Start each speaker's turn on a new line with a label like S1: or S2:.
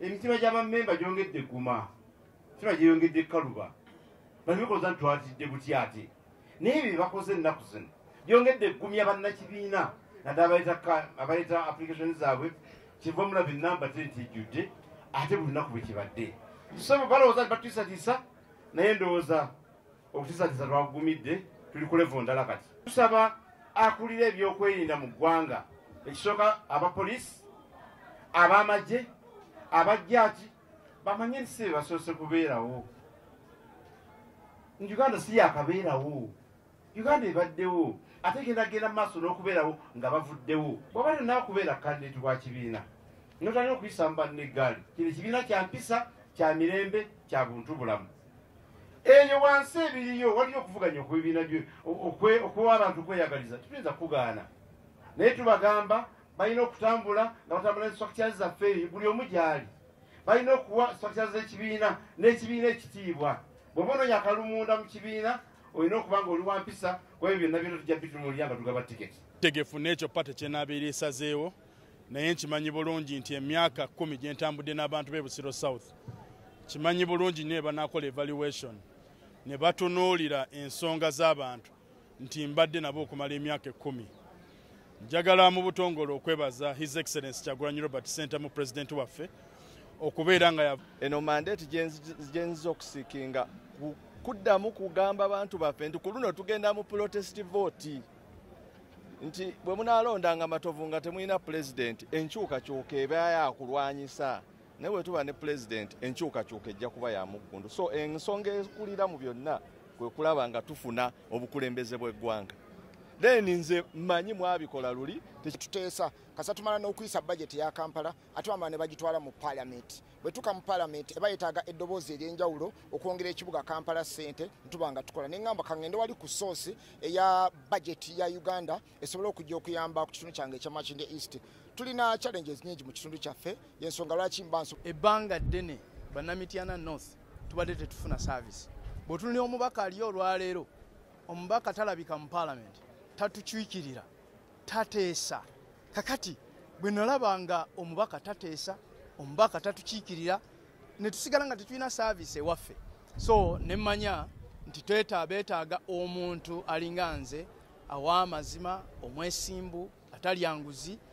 S1: emitima gy'abammemba gyongedde egguma emitima gyeyongedde ekkaluba balimukoza nti twatidde butya ate naye bye bakoze ennaku zino byongedde eggumya bannakibiina naddala abaleeta application zaabwe kiva omulaba enamba te nti ejjudde ate buli lunaku bwe kibadde so balowooza nti batwisatiisa naye ndowooza okutisatiza twakugumidde tuli ku levo ndala kati tusaba akulira ebyokwerinda mu ggwanga ekisooka abapoliisi ab'amagye abajjaaki bamanye nti si bebasoose kubeerawo uganda si yakabeerawo uganda ebaddewo ate genda genda mu maaso n'okubeerawo nga bavuddewo bwaba lyonna okubeera kandidati wa kibiina notalina okuyisa mu banne eggaali kino ekibiina kya mpisa kya mirembe kya buntu bulamu eyo wansi ebiriyo waliyo okuvuganya okubibiina okuwa abantu okweyagaliza tetuyinza kugaana naye tubagamba balina okutambula nga batambula nestructure zaffe buli omu gyali balina okuwa structure zekibiina n'ekibiina ekitiibwa bwoba ononya akalumunda mu kibiina olina okuba nga oli wampisa kwebyo byonna byona tujja bitunulira nga tugaba tiketi tegefu n'ekyo pate
S2: kyenabeera esazeewo naye nkimanyi bulungi nti emyaka kumi gye ntambudde n'abantu b'e busiro south kimanyi bulungi nyo ebanakola evaluation ne batunuulira ensonga z'abantu nti mbadde nabo okumala emyaka ekkumi njagala mu butongole okwebaza his excellence kyagulanyi robert center mu president waffe okubeera nga eno mandate
S3: gyenziza okusikinga kuddamu kugamba bantu baffe nti ku luno tugenda mu protest vote nti bwe munaalondanga matovu nga temulina pulezidenti enkyukakyuka eba yakulwanyisa naye bwe tuba ne pulezidenti enkyukakyuka ejja kuba ya muggundu so ensonga ekulira mu byonna kwe kulaba nga tufuna obukulembeze bw'eggwanga then nze manyi mwabikola luli tuteesa
S4: kasa tumala n'okuyisa bajeti ya kampala ate wamala ne bagitwala mu paalamenti bwetuka mu palamenti eba yetaaga eddoboozi ery'enjawulo okwongera ekibuga kampala ssente ntuba nga tukola ne ŋŋamba kaŋŋende wali ku soosi eya bajeti ya uganda esobole okujja okuyamba ku kitundu kyange ekya makinde east tulina challenges nyingi mu kitundu kyaffe yensonga lwaki mbanso ebbanga ddene
S5: banamityana north tubadde tetufuna service bwetuli omubaka aliyo olwaleero omubaka talabika mu palamenti tatukiikirira tateesa kakati bwe nalaba nga omubaka tateesa omubaka tatukiikirira ne tusigala nga tetulina saaviisi ewaffe so ne mmanya nti tweta beetaaga omuntu alinga nze awa amazima omwesimbu atalyanguzi